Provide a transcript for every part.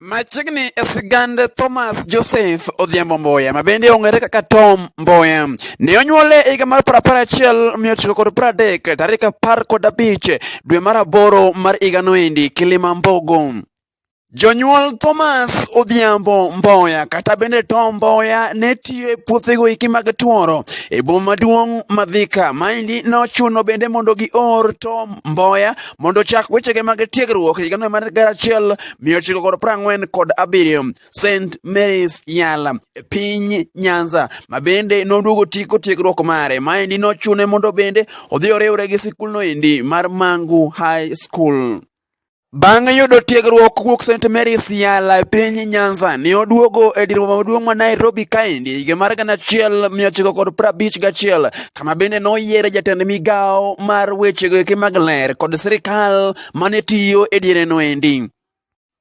Machiegni e sigand Thomas Joseph Odhiambo Mboya ma bende ong'ere kaka Tom Mboya ne onyuole e higa mar piero apar achiel mia ochiko kod piero adek tarik apar kod abich dwe mar aboro mar higa noendi Kilima Mbogo. Jonyuol Thomas Odhiambo Mboya kata bende Tom Mboya ne tiyo e puothego iki mag tworo e boma maduong' ma Thika. Maendi nochuno bende mondo gior Tom Mboya mondo ochak wechege mag tiegruok higa no mar gara achiel mia ochiko kod prang'wen kod abiriyo St Mary's Yala e piny Nyanza ma bende noduogo tiko tiegruok mare maendi nochune mondo bende odhi oriwre gi sikulno endi mar Mangu High School. Bang' yudo tiegruok kuok St Mary's Yala e piny Nyanza, ne oduogo e dir boma maduong' ma Nairobi kaendi higa mar gana achiel mia ochiko kod prabich gachiel kama bende noyiere jatend migawo mar wechego eke mag ler kod sirikal mane tiyo e diere noendi.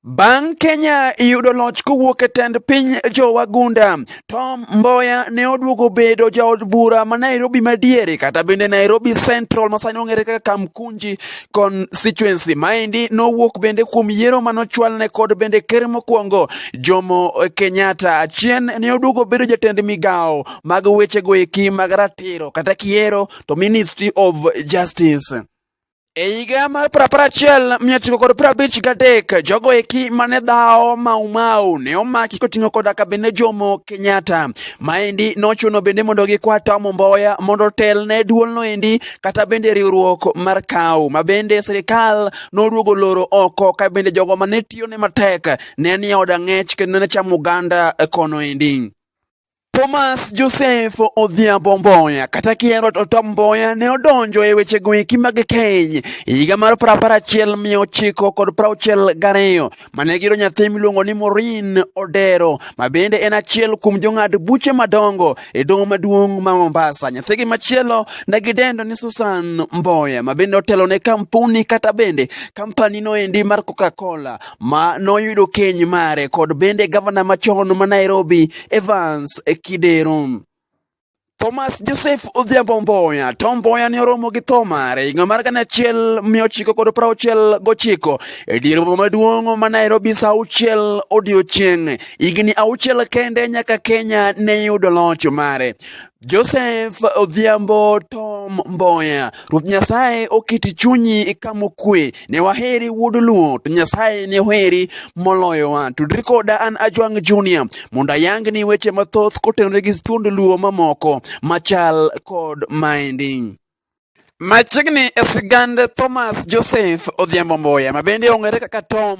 Bang' Kenya yudo loch kowuok e tend piny jowagunda, Tom Mboya ne oduogo bedo jaod bura ma Nairobi madiere kata bende Nairobi Central masani ong'ere kaka Kamkunji constituency. Maendi nowuok bende kuom yiero manochwalne kod bende ker mokwongo Jomo Kenyatta. Achien ne oduogo bedo jatend migawo mag wechego eki mag ratiro kata kiero to Ministry of Justice. E higa mar prapar achiel mia ochiko kod prabich gadek jogo eki mane dhawo Maumau ne omaki koting'o koda kabinde Jomo Kenyatta. Maendi nochuno bende mondo gikwa Tom Mboya mondo otel ne duolno endi kata bende riwruok mar kaw ma bende sirikal noduogo loro oko ka bende jogo mane tiyo ne matek ne ni oda ng'ech kendo ne chamo oganda kono endi. Thomas Joseph Odhiambo Mboya kata kihero to Tom Mboya ne odonjo e wechego eki mag keny e higa mar piero apar achiel mia ochiko kod piero auchiel gariyo mane giro nyathi miluongo ni Maureen Odero ma bende en achiel kuom jong'ad buche madongo e doho maduong' ma Mombasa. Nyathigi machielo ne gidendo ni Susan Mboya ma bende otelo ne kampuni kata bende kampanino endi mar Coca-Cola ma noyudo keny mare kod bende gavana machon ma Nairobi Evans Kidero. Thomas Joseph Odhiambo Mboya. Tom Mboya ne oromo gi tho mare higa mar gana achiel mia ochiko kod piero auchiel gochiko e dier boma maduong' ma Nairobi sa auchiel odiechieng'. Higni auchiel kende nyaka Kenya ne yudo loch mare. Joseph Odhiambo Tom Mboya, Ruoth Nyasaye oketi chunyi ikamo kwe, ne waheri wuod Luo, to Nyasaye ne oheri moloyowa. Tudri koda an Ajwang' Junior mondo ayangni weche mathoth kotenore gi thuond Luo mamoko machal kod maendi. Machiegni e sigand Thomas Joseph Odhiambo Mboya ma bende ong'ere kaka Tom